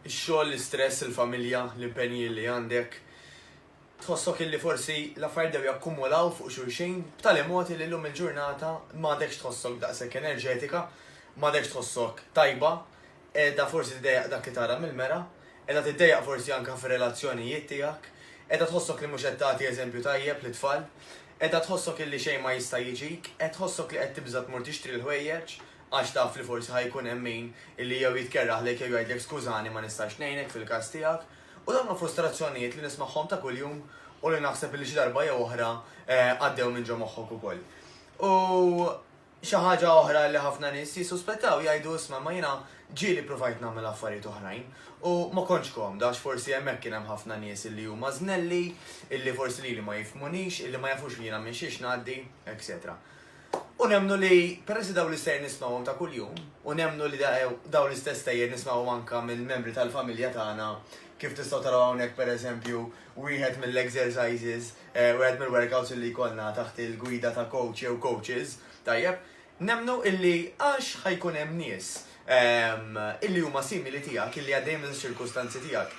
Ix-xogħol, l-istress, il-familja, l-impenji li għandek, tħossok illi forsi l-affarijiet dew jakkumulaw fuq xulxin b'tali mod li llum il-ġurnata m'għadekx tħossok daqshekk enerġetika, m'għadekx tħossok tajba, qiegħda forsi tiddejjaq dak li tara mill-mera, qiegħda tiddejjaq forsi anke fir-relazzjonijiet tiegħek, qiegħda tħossok li mhux qed tagħti eżempju tajjeb lit-tfal, qiegħda tħossok illi xejn ma jista' jiġik, qed tħossok li qed tibża' tmur tixtri l-ħwejjeġ, għax taf li forsi ħa jkun hemm min li jew jitkerraħlek jew jgħidlek skużani ma nistax ngħinek fil-każ tiegħek. U dawn huma frustrazzjonijiet li nismagħhom ta' kuljum u li naħseb li xi darba jew oħra għaddew minn ġo moħħok ukoll. U xi ħaġa oħra li ħafna nies jissuspettaw jgħidu isma' ma jiena ġieli provajt nagħmel affarijiet oħrajn u ma kontx komda għax forsi hemmhekk kien hemm ħafna nies li huma żnelli, illi forsi lili ma jifhmunix, illi ma jafux li jiena minn xiex ngħaddi, etc. U nemmnu li, peress li dawn l-istejjer nismgħuhom ta' kuljum, u nemmnu li dawn l-istess stejjer nismgħuhom anke minn membri tal-familja tagħna, kif tistgħu taraw hawnhekk pereżempju wieħed mill-exercises, wieħed mill-workouts li jkollna taħt il-gwida ta' coach jew coaches, tajjeb, nemmnu illi għax ħa jkun hemm nies illi huma simili tiegħek, illi għaddejjin minn ċirkustanzi tiegħek,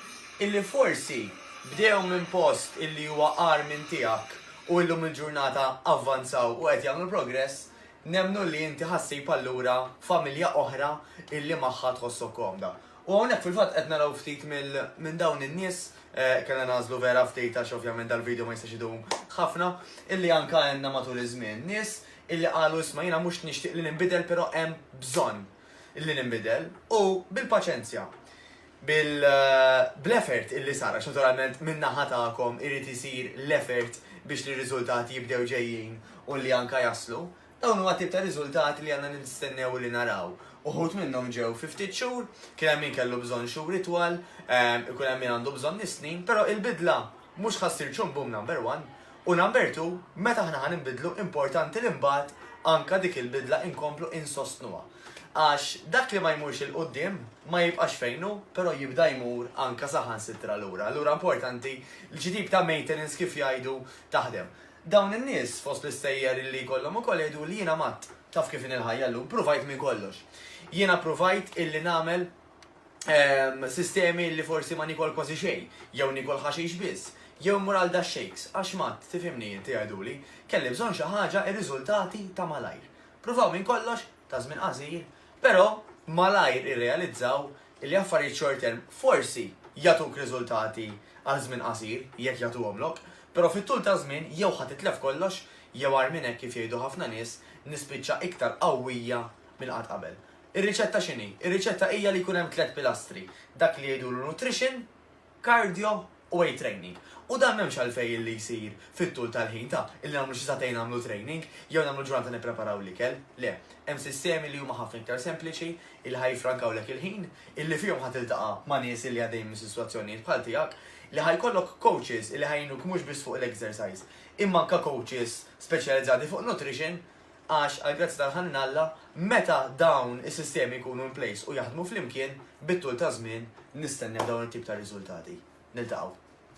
illi forsi bdew minn post illi huwa għar minn tiegħek u illum il-ġurnata avvanzaw u qed jagħmlu progress, nemnu li inti ħassib allura familja oħra illi magħha tħossok komda. U hawnhekk fil-fatt qed naraw ftit minn dawn in-nies eh, kellna nażlu vera ftit għax ovvjament dal-video ma jistax idum ħafna, illi anka għandna matul iż-żmien nies illi qalu isma' jiena mhux nixtieq li ninbidel però hemm bżonn illi ninbidel u bil-paċenzja bil bl-effort illi sar għax naturalment min-naħa tagħkom irid isir l-effort biex li r-riżultati jibdew ġejjin u li anke jaslu. Dawn huma t-tip ta' riżultati li għandna nistennew illi naraw. Uħud minnhom ġew fi ftit xhur, kien hemm min kellu bżonn xhur itwal, ikun hemm min għandu bżonn is-snin, però il-bidla mhux ħa ssir ċumbum number one U number two, meta aħna ħa ninbidlu importanti li mbagħad anke dik il-bidla inkomplu insostnuha. Għax dak li ma jmurx 'il quddiem ma jibqax fejn hu, però jibda jmur anke saħansitra lura. Allura importanti li xi tip ta' maintenance kif jgħidu taħdem. Dawn in-nies fost l-istejjer li jkollhom ukoll jgħiduli jiena matt, taf kif inhi l-ħajja llum, pruvajt minn kollox. Jiena pruvajt illi nagħmel ehm, sistemi li forsi ma nikol kważi xejn, jew nikol ħaxix biss, jew mur għal da shakes, għax mat, tifimni inti għaduli, kelli bżonn xi ħaġa ir-riżultati ta' malajr. Pruvaw minn kollox, ta' żmien qasir, però malajr irrealizzaw li affarijiet short term forsi jatuk riżultati għal żmien qasir jekk jagħtuhomlok, però fit-tul ta' żmien jew ħadd itlef kollox jew għar minn hekk kif jgħidu ħafna nies nispiċċa iktar qawwija minn qatt qabel. Ir-riċetta x'inhi? Ir-riċetta hija li jkun hemm tliet pilastri, dak li jgħidulu nutrition, cardio u weight training. U dan m'hemmx għalfejn illi jsir fit-tul tal-ħin ta' illi nagħmlu xi sagħtejn nagħmlu training jew nagħmlu ġurnata nippreparaw l-ikel. Le, hemm sistemi li huma ħafna iktar sempliċi illi ħa jiffrankawlek il-ħin, illi fihom ħa tiltaqa' ma' nies illi għaddejjin minn sitwazzjonijiet bħal tiegħek, li ħa jkollok coaches illi ħa jgħinuk mhux biss fuq l-exercise, imma anke coaches speċjalizzati fuq nutrition għax għall-grazzja tal-ħanin Alla, meta dawn is-sistemi jkunu in place u jaħdmu flimkien, bit-tul taż-żmien nistennew dawn it-tip ta' riżultati. Niltaqgħu.